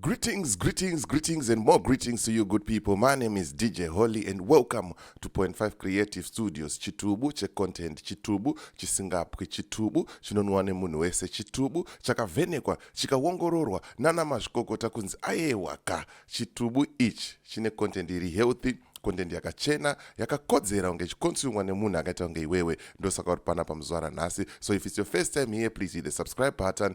Greetings, greetings, greetings, and more greetings to you, good people. My name is DJ Holly, and welcome to Point Five Creative Studios. Chitubu che content, chitubu chisingapwi, chitubu chinonwa nemunhu wese, chitubu chakavhenekwa chikaongororwa nana mazvikokota kunzi ayewa ka chitubu ichi chine content iri healthy content yakachena yakakodzera kunge ichikonsumwa nemunhu akaita kunge iwewe ndosaka uri pana pamuzuva ranhasi so if its your first time here please hit the subscribe button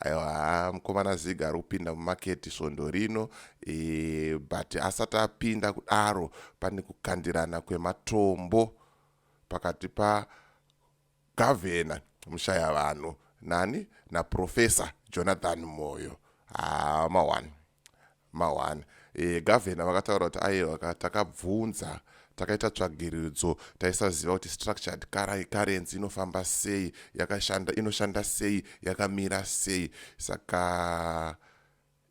aiwa mukomana ziga ari kupinda mumaketi svondo rino e, but asati apinda kudaro pane kukandirana kwematombo pakati pagavhena mushaya vanhu nani naprofesa jonathan moyo hama ah, one mahwani e, gavhena vakataura kuti aiwa ka takabvunza takaita tsvagiridzo taisaziva kuti structured currency inofamba sei yakashanda inoshanda sei yakamira sei saka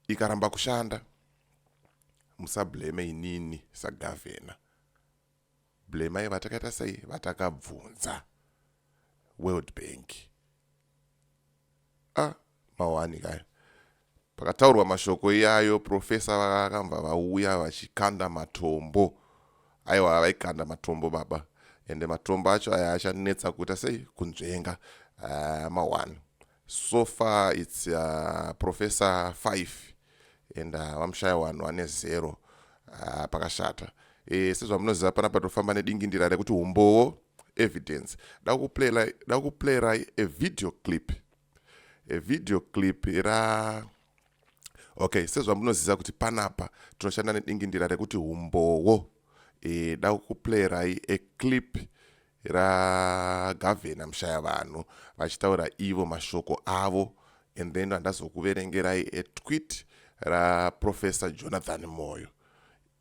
ikaramba kushanda musableme inini sagavhena Blemai vatakaita sei vatakabvunza World Bank. Ah, mawani kaya. Pakataurwa mashoko iyayo professor vakamva vauya vachikanda matombo. Aiwa vaikanda matombo baba. Ende matombo acho aya achanetsa kuita sei kunzvenga. Ah, mawani. So far it's uh, professor 5 and uh, vamushaya wanhu wane zero uh, pakashata e, sezvamunoziva pana patofamba nedingindira rekuti umbowo evidence da kuplayera a video clip a video clip ra okay sezvamunoziva kuti panapa tinoshanda nedingindira rekuti umbowo e, da kuplayera a clip ragavhena mushaya vanhu vachitaura ivo mashoko avo and then randazokuverengerai etwit raprofessor jonathan moyo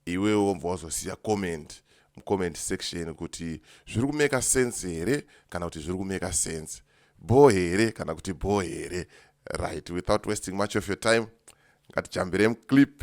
iwe wobva wazosiya comment mucomment section kuti zviri kumeka sense here kana kuti zviri kumeka sense bho here kana kuti bho here right without wasting much of your time ngatichambiremuclip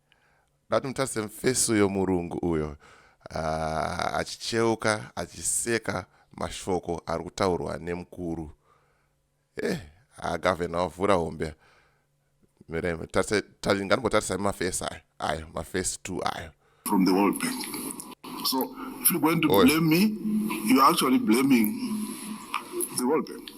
Ndati mutarise mfesi uyo murungu uyo uh, achicheuka achiseka mashoko ari kutaurwa nemukuru eh agavhena ah, wavhura hombe mireme nganimbotarisai mafesi ayo ayo mafesi two ayo from the world bank so if you're going to Oy. blame me you're actually blaming the world bank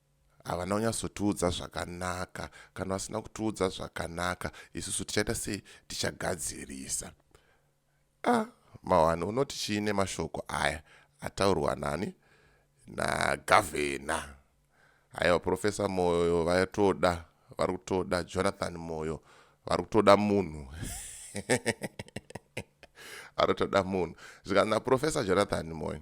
havana kunyatsotiudza zvakanaka kana vasina kutiudza zvakanaka isusu tichaita sei tichagadzirisa a ah, mawani unoti chii nemashoko aya ataurwa nani nagavhena haiwa profesa moyo vatoda vari kutoda jonathan moyo vari kutoda munhu vari kutoda munhu zvikanzi naprofesa jonathan moyo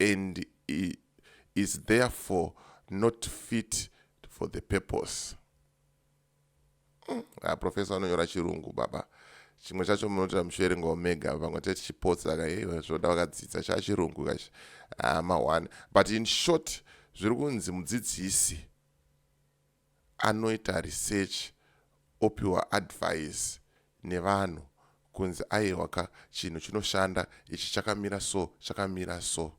and is therefore not fit for the purpose mm. ah, professor anonyora chirungu baba chimwe chacho munotoita muchiverengawo mega vamwe tete chipotsa ka iwe zvoda vakadzidza chaa chirungu kachi ah, mahwani but in short zviri kunzi mudzidzisi anoita research opiwa advice nevanhu kunzi ayewa ka chinhu chinoshanda ichi chakamira so chakamira so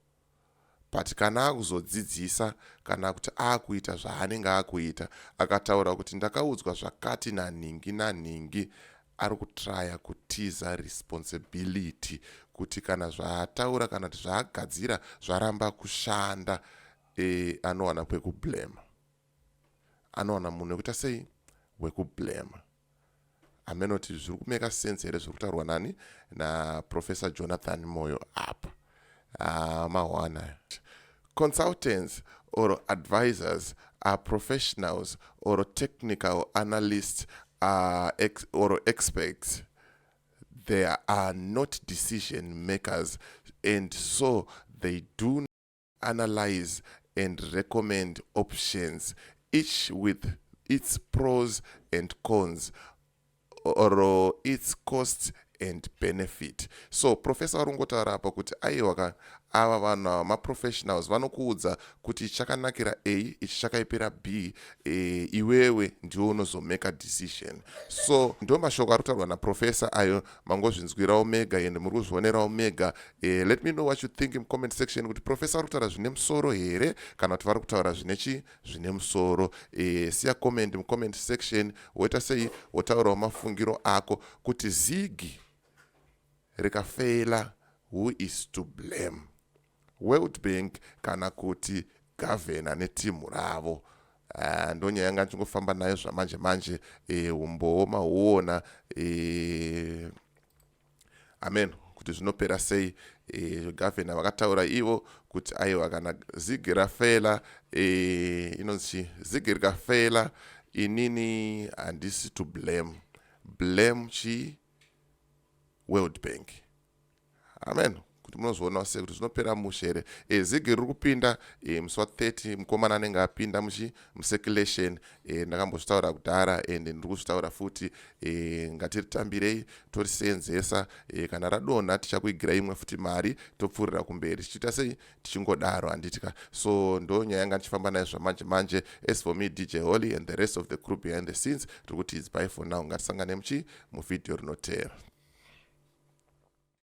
but kana akuzodzidzisa kana kuti akuita zvaanenge akuita akataura kuti ndakaudzwa zvakati nanhingi nanhingi ari kutraya kutiza responsibility kuti kana zvaataura kana kuti zvaagadzira zvaramba kushanda e, anowana kwekublema anowana munhu wekuita sei wekublema amene kuti zviri kumeka sense here zviri kutaurwa nani naprofessor jonathan moyo apa ah, mahwana aya consultants or advisors are professionals or technical analysts are ex or experts they are not decision makers and so they do analyze and recommend options each with its pros and cons or its cost and benefit so professor ari kungotaura apa kuti aiwa ka ava vanhu ava maprofessionals vanokuudza kuti chakanakira a ichi chakaipira b e, iwewe ndiwo unozomeka decision so ndo mashoko ari kutaurwa naprofessor ayo mangozvinzwirawo mega and muri kuzvionerawo mega eh, let me know what you think mucomment section kuti professor vari kutaura zvine musoro here kana kuti vari kutaura zvine chi zvine musoro eh, siya comment mucomment section woita sei wotaurawo mafungiro ako kuti zigi rikafeila who is to blame World Bank kana kuti gavhena netimhu ravo ah, ndonyaya yanga ndichingofamba nayo zvamanje manje eh, umbowo mahuona eh, amen kuti zvinopera sei eh, gavhena vakataura ivo kuti aiwa kana zigi rafela inonzi chi zigi rikafela inini handisi to blame blame chi world bank amen kuti munozoonawo sei kuti zvinopera mushe here e, eh, zigi riri kupinda e, musi wa 30 mukomana anenge apinda muchi mucirculation e, ndakambozvitaura kudhara and ndiri kuzvitaura futi e, ngatiritambirei toriseenzesa e, kana radonha tichakuigira imwe futi mari topfuurira kumberi tichiita sei tichingodaro handiti ka so ndo nyaya yanga ndichifamba nayo zvamanje manje as for me dj holy and the rest of the group behind the scenes tiri kuti idzbai for now ngatisangane muchii muvhidhiyo rinoteera